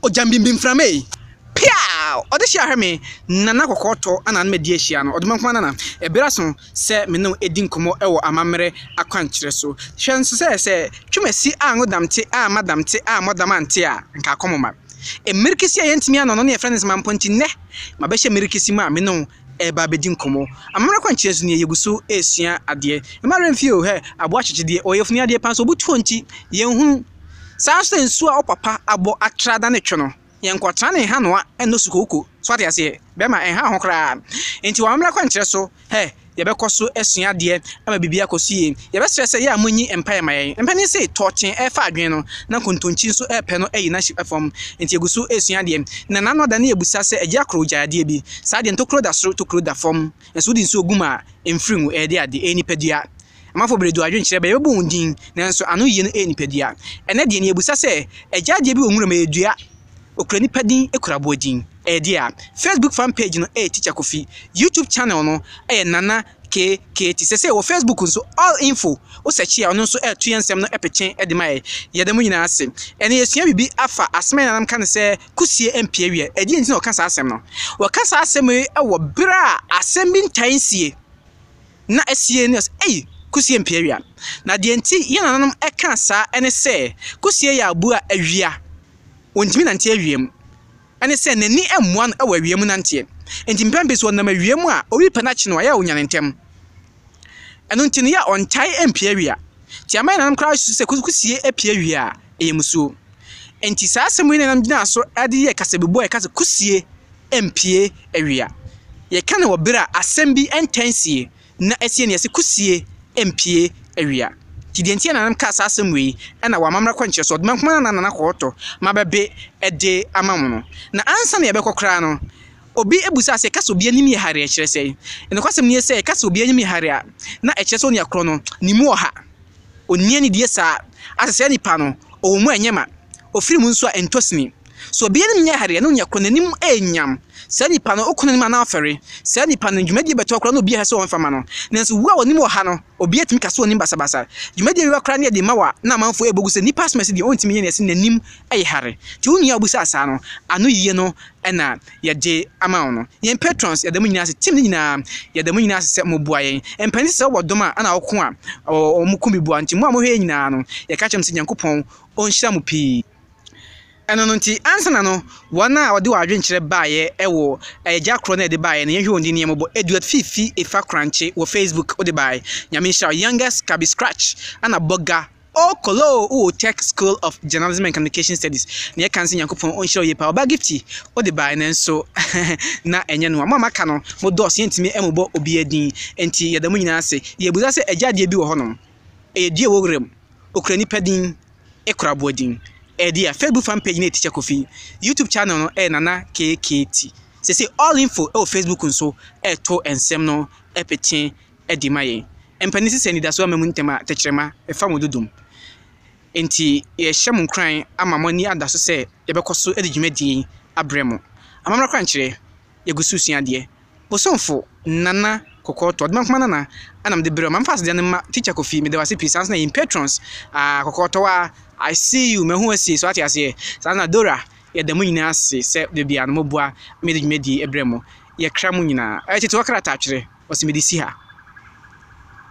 Ogya mbimbi mframa ei, peaw! Ɔde hyɛ ahwɛ me, Nana kɔkɔɔtɔ ana na madi ahyia no, ɔdoma nkoa nana. Ɛbere aso sɛ me ne wo adi nkɔmmɔ wɔ amammerɛ akwankyerɛ so. Hwɛ nso sɛ sɛ twam asi a ngo dam te a mma dam te a mmɔ dam ante a, nka akɔm mma. Mmirikisi a yɛntumi anɔ no ne yɛfrɛ no nsema mpo nti, nnɛ mabɛhyɛ mmirikisi mu a me ne wo reba abɛdi nkɔmmɔ. Amammerɛ akwankyerɛ so nie, yɛgu so resua adeɛ. Mma werɛ mfii o, hɛ, aboa kyekye deɛ, ɔyɛ funu adeɛ paa nso obutuo nti, yɛnhunu. Saa nso na nsuo a wo papa abɔ atra da ne twe no, yɛnkɔtra ne nhanoa nnɔ sukooko. So wate aseɛ? Bɛrima, ɛnha wo ho koraa. Enti wɔ Amammerɛ kwankyerɛ so, hɛ, yɛbɛkɔ so asua adeɛ ama biribi akɔ so yie. Yɛbɛsrɛ sɛ yɛ a monyi mpaeɛ mma yɛn. Mpanin se, Tɔɔkye refa adwene no, na Nkontonkyi nso repɛ no ayi n'ahyip fam. Enti yɛgu so resua adeɛ. Na nna ano ada ne yɛbisa sɛ, Agya Koro, gyae adeɛ bi. Saa deɛ, ntokuro da soro, tokuro da fam. Na sɛ wode nsuo gu mu a, ɛmfiri ngu. Ɛyɛ deɛ ade? Ɛyɛ nipadua. Amamfo bere du adwenkyerɛ bɛn yɛbɛbɔ wɔn din, nanso ano yiye no yɛ nipadua. Ɛnnɛ de, nea ebisa sɛ, Agya adeɛ bi wɔ nwura mu ɛyɛ dua? Okura nipa din, ekura aboa din. Ɛyɛ dea? Facebook fan page no yɛ Teacher Kofi. YouTube channel no yɛ Nana KKT. Seesei wɔ Facebook nso, All Info, wo sɛkye a ɔno nso ɛreto yɛn nsɛm no pete de ma yɛn. Yɛda mo nyinaa ase. Ɛnnɛ yɛresua biribi afa asɛm a yɛn nananom ka no sɛ, Kusie mpia awia. Ɛdeɛn nti na wɔka saa asɛm no? Wɔka saa asɛm yi wɔ bere a asɛm bi ntae nsie. na Asie no sɛ, Ei! Kusie mpia awia. Na deɛ nti yɛn nananom ka saa ne sɛ, Kusie yɛ aboa a awia, ɔntumi nante awia mu. Ɛne sɛ, n'ani mmoa no wɔ awia mu nanteɛ. Enti mpɛn pii so ɔnam awia mu a, ɔwi pɛ no akye no a, ɛyɛ a ɔnyane ntɛm. Ɛno nti no, yɛ a ɔntae mpia awia. Nti ama yɛn nananom koraa susu sɛ kusie pia awia a, ɛyɛ mmusuo. Enti saa asɛm wei na yɛn nananom gyinaa so de yɛɛ kasabibua a yɛka sɛ kusie. mpue awia. Yɛka no wɔ ber a asɛm bi ntɛn sie na esie no yɛse kusie mpue awia. Ntsi dza ntsi na nna mekaa saa asɛm wei na wɔ amambra kɔ nkyerɛso ɔdze bɛnko ara na nna akɔɔtɔ mabɛbe de ama hɔn. Na ansaana yɛbɛkɔ koraa no obi busaa sɛ yɛka sɛ obi enyim yɛ hare a kyerɛ sɛn? Nokwasɛm nye sɛ yɛka sɛ obi enyim yɛ hare a na ɛkyerɛ sɛ onua kor no ne mu wɔ ha, onnyɛ ne die saa, asesɛɛ nyimpa no ɔwɔ mu a nnyɛ ma, ofir mu so a nntɔ sini. Sɛ obiara anim nyɛ hare a, na onua koro no anim renyam. Saa nipa no, okum no anim anaa ɔfɛre. Saa nipa no, dwumadi a ɛbɛtoa koraa no na obiara hwɛ sɛ ɔmfa mma no. Nanso wu a w'anim wɔ ha no, obiara tumi ka sɛ w'anim basabasa. Dwumadi a ɛwia koraa no yɛ den ma wo a na amanfo rebɔ gu sɛ nnipa asom asi deɛ ɔntumi nyɛ nea ɛsɛ n'anim yɛ hare. Te wo nua a obisaa saa no ano yiye no na yɛde ama wo no. Yɛn patrons, yɛda mo nyinaa ase. Team no nyinaa, yɛda mo nyinaa ase sɛ moboa yɛn. Mpanin sɛ sɛ wowɔ dɔm a, ɛna woko a, wɔko bi boa. Nti mo a mohwɛ yɛn nyinaa no, yɛka kyerɛ mo sɛ Nyankopɔn ɔnhyira mo pii. Ɛno no nti, ansa na no, wɔn a wɔde wɔn adwenkyerɛ baeɛ wɔ agya korɔ no a ɛde baeɛ no, yɛnhwɛ wɔn din ne yɛn mmobɔ, Eduat Fifi Efa Korankye wɔ Facebook, wode bae, Nyame nhyira wo, Youngest Kabi Scratch, Anna Bogga, O Kolo wowɔ Tech School of Journalism and Communication Studies, nea yɛka ne sɛ Nyankopɔn ɔnhyira wo yie paa, Ɔba Gifty, wode bae nanso na ɛnyɛ noa, mo a moaka no, mo dɔɔso yɛntumi mmobɔ obiara din, enti yɛda mo nyinaa ase, yɛbisa sɛ agya adeɛ bi wɔ hɔnom, ɛyɛ dua ɛwɔ wuram, ɔkura nipa din, ekura aboa din. Ɛdi a Facebook fan page no yɛ Teacher Kofi. YouTube channel no yɛ Nana KKT. Sese all info wɔ Facebook nso ɛto nsɛm no pete ɛde ma yɛn. Mpanin sisi anidaso ama mu ntɛm a tɛkyerɛma ɛfa mo dodom. Enti yɛhyɛ mo nkuran ama mo ani ada so sɛ yɛbɛkɔ so de dwumadie yi abrɛ mo. Amammerɛ kwankyerɛ. yɛgu so sua adeɛ. Bosomfo Nana Kɔkɔɔ Tɔ, Ɔdoma Nkrumah Nana ɛna mede brɛ wo. Mamfa aseda no mma Teacher Kofi, meda wo ase pii. Saa nso na yɛn patrons, ah, Kɔkɔɔ Tɔ ah, I see you, mahu asie, so ate aseɛ. Saa nso na Dora, yɛda mo nyinaa ase sɛ da biara no moboa ma yɛde dwumadie brɛ mo. Yɛkra mo nyinaa. Ɛyɛ Tetewɔ Krataatwerɛ, ɔse mede si ha.